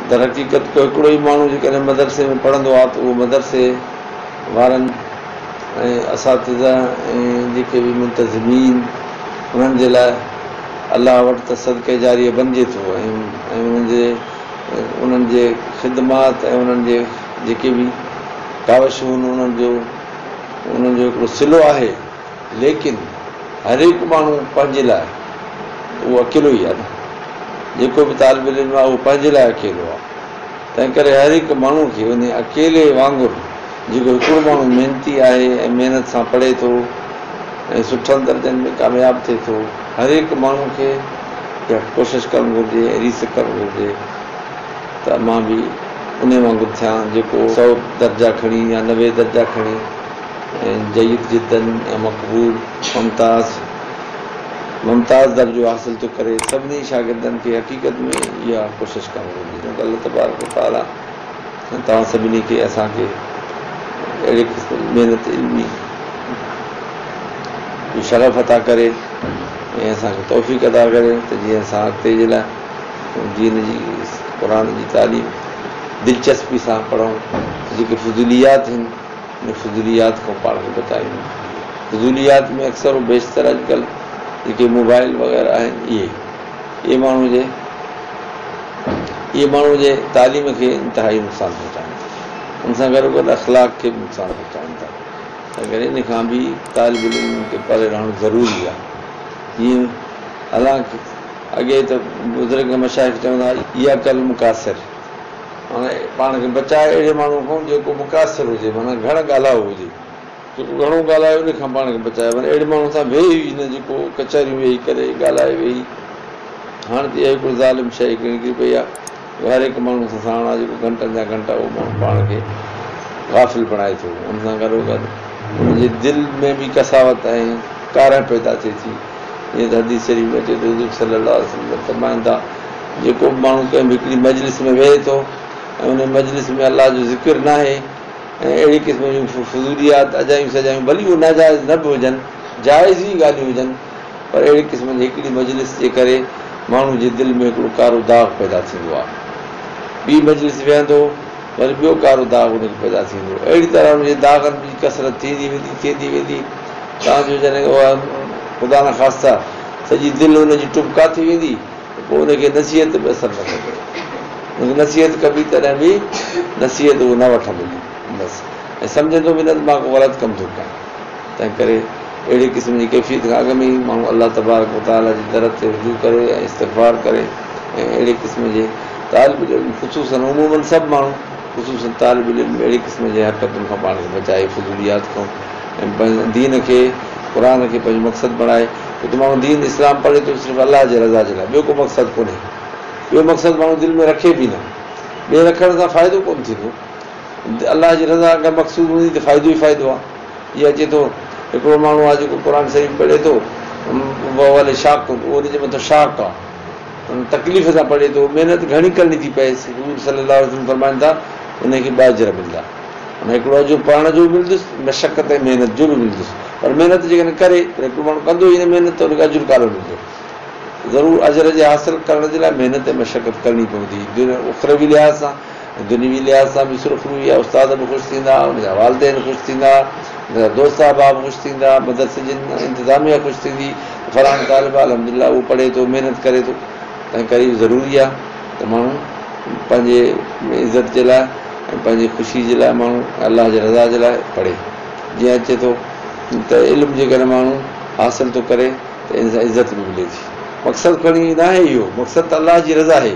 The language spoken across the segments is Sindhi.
در حقيقت ڪو هڪڙو ئي ماڻهو جيڪڏهن مدرسي ۾ پڙهندو آ ته اهو مدرسي وارن ۽ اساتذه ۽ جيڪي به منتظمين انهن جي لاء الله وٽ ته صدقه جاريه بنجي ٿو ۽ انهن جي خدمات ۽ انهن جي جيڪي به ڪاوشون انهن جو هڪڙو صلو آهي. ليڪن هرهڪ ماڻهو پنهنجي لاء ته اهو اڪيلو ئي آهي نه. جيڪو به طالب العلم آهي اهو پنهنجي لاء اڪيلو آهي. تنهن ڪري هر هڪ ماڻهو کي انهي اڪيلي وانگر جيڪو هڪڙو ماڻهو محنتي آهي ۽ محنت سان پڙهي ٿو ۽ سٺن درجن ۾ ڪامياب ٿئي ٿو هر هڪ ماڻهو کي اها ڪوشش ڪرڻ گهرجي ۽ ريس ڪرڻ گهرجي ته مان به انهي وانگر ٿيان جيڪو سؤ درجا کڻي يا نوي درجا کڻي. جيد جدا ۽ مقبول ممتاز ممتاز درجو حاصل ٿو ڪري سڀني شاگردن کي حقيقت ۾ اها ڪوشش ڪرڻ گهرجي ته الله تبارڪ و تعالي توهان سڀني کي اسان کي اهڙي قسم جي محنت علمي جو شغف عطا ڪري ۽ اسان کي توفيق عطا ڪري ته جيئن اسان اڳتي جي لاء دين جي قرآن جي تعليم دلچسپي سان پڙهون جيڪي فضوليات آهن ۾ فضوليات کان پاڻ کي بچائيندو فضوليات ۾ اڪثر و بيشتر اڄڪلهه جيڪي موبائل وغيره آهن اهي اهي ماڻهو جي اهي ماڻهو جي تعليم کي انتهائي نقصان پهچائين ٿا ان سان گڏو گڏ اخلاق کي به نقصان پهچائين ٿا تنهن ڪري ان کان به طالب العلم کي پري رهڻ ضروري آهي جيئن حالانڪ اڳي ته بزرگ مشائخ چوندا هئا اياڪ المقاصر معنيٰ پاڻ کي بچاء اهڙي ماڻهوء کان جيڪو مقاصر هجي، معنيٰ گهڻ ڳالهائو هجي. جيڪو گهڻو ڳالهائي ان کان پاڻ کي بچاء، معنيٰ اهڙي ماڻهوء سان ويهي ئي نه جيڪو ڪچهريون ويهي ڪري، ڳالهائي ويهي. هاڻ ته اها هڪڙي ظالم شيء نڪري پئي آهي جو هر هڪ ماڻهوء سان ساڻ آهي جيڪو گهنٽن جا گهنٽا اهو ماڻهو پاڻ کي غافل بڻائي ٿو. ان سان گڏوگڏ ان جي دل ۾ به قساوت ۽ ڪارنهن پيدا ٿئي ٿي. جيئن ته حديث شريف ۾ اچي ٿو ته حضور صلّي اللّٰه عليه وسلّم فرمائن ٿا، جيڪو به ماڻهو ڪنهن به هڪڙي مجلس ۾ ويهي ٿو ۽ ان مجلس ۾ الله جو ذڪر ناهي ۽ اهڙي قسم جون فضوليات اجايون سجايون ڀلي اهي ناجائز نه به هجن، جائز ئي ڳالهيون هجن پر اهڙي قسم جي هڪڙي مجلس جي ڪري ماڻهو جي دل ۾ هڪڙو ڪارو داغ پيدا ٿيندو آهي. ٻي مجلس ويهندو. يعني ٻيو ڪارو داغ ان کي پيدا ٿيندو. اهڙي طرح ان جي داغن جي ڪثرت ٿيندي ويندي ٿيندي ويندي تان جو جڏهن اها خدا نخواسته سڄي دل ان جي ٽٻڪا ٿي ويندي ته پوء ان کي نصيحت به اثر نه ڪندو. ان کي نصيحت ڪبي تڏهن به نصيحت اهو نه وٺندو بس ۽ سمجهندو به نه ته مان ڪو غلط ڪم ٿو ڪيان. تنهنڪري اهڙي قسم جي ڪيفيت کان اڳ ۾ ئي ماڻهو الله تبارڪ و تعاليٰ جي در تي رجوع ڪري ۽ استغفار ڪري ۽ اهڙي قسم جي طالب العلم خصوصاً عموماً سڀ ماڻهو خصوصاً طالب العلم اهڙي قسم جي حرڪتن کان پاڻ کي بچائي فضوليات کان ۽ پنهنجي دين کي قرآن کي پنهنجو مقصد بڻائي ڇو ته ماڻهو دين اسلام پڙهي ٿو صرف الله جي رضا جي لاء ٻيو ڪو مقصد ڪونهي ٻيو مقصد ماڻهو دل ۾ رکي به نه ٻيو رکڻ سان فائدو ڪونه ٿيندو الله جي رضا اگر مقصود هوندي ته فائدو ئي فائدو آ. جي اچي ٿو هڪڙو ماڻهو آ جيڪو قرآن شريف پڙهي ٿو وهو عليه شاق اهو ان جي مٿان شاق آ تڪليف سان پڙهي ٿو محنت گهڻي ڪرڻي ٿي پئيس حضور صلي الله عليه وسلم فرمائن ٿا ان کي ٻه اجر ملدا ۽ هڪڙو اجر پڙهڻ جو به ملدس مشقت ۽ محنت جو به ملدس پر محنت جيڪڏهن ڪري پر هڪڙو ماڻهو ڪندو ئي نه محنت ته ان کي اجر ڪالو ملدو ضرور اجر جي حاصل ڪرڻ جي لاء محنت ۽ مشقت ڪرڻي پوندي دنيا اخروي لحاظ سان دنيوي لحاظ سان به سرخرو يا استاد به خوش ٿيندا، ان جا والدين خوش ٿيندا، ان جا دوست احباب خوش ٿيندا، مدرسي جي انتظاميه خوش ٿيندي ته فلاڻو طالب الحمدلله اهو پڙهي ٿو، محنت ڪري ٿو. تنهن ڪري اهو ضروري آهي ته ماڻهو پنهنجي عزت جي لاء ۽ پنهنجي خوشي جي لاء ماڻهو الله جي رضا جي لاء پڙهي. جيئن اچي ٿو ته علم جيڪڏهن ماڻهو حاصل ٿو ڪري ته ان سان عزت به ملي ٿي. مقصد کڻي ناهي اهو، مقصد ته الله جي رضا آهي.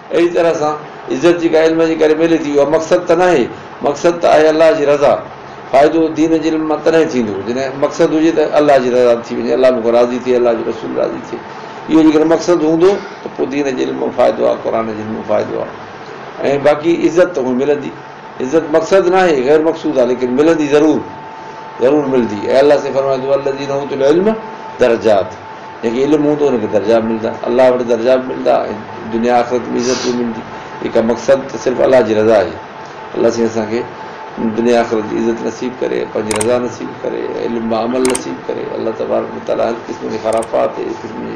اهڙي طرح سان عزت جيڪا علم جي ڪري ملي ٿي، اها مقصد ته ناهي، مقصد ته آهي الله جي رضا. فائدو دين جي علم مان تڏهن ٿيندو، جڏهن مقصد هجي ته الله جي رضا ٿي وڃي، الله مون کان راضي ٿئي، الله جو رسول راضي ٿئي. اهو جيڪڏهن مقصد هوندو ته پوء دين جي علم مان فائدو آهي، قرآن جي علم مان فائدو آهي ۽ باقي عزت ته هونئن ملندي. عزت مقصد ناهي غير مقصود آ ليڪن ملندي ضرور ضرور ملدي اي الله سين فرمائي ٿو والذين اوتوا العلم درجات جنهن کي علم هوندو ان کي درجا ملدا الله وٽ درجا به ملدا ۽ دنيا آخرت ۾ عزت به ملدي ايڪا مقصد ته صرف الله جي رضا آهي الله سين اسان کي دنيا آخرت جي عزت نصيب ڪري پنهنجي رضا نصيب ڪري علم با عمل نصيب ڪري الله تبارڪ وتعالي هر قسم جي خرافات هر قسم جي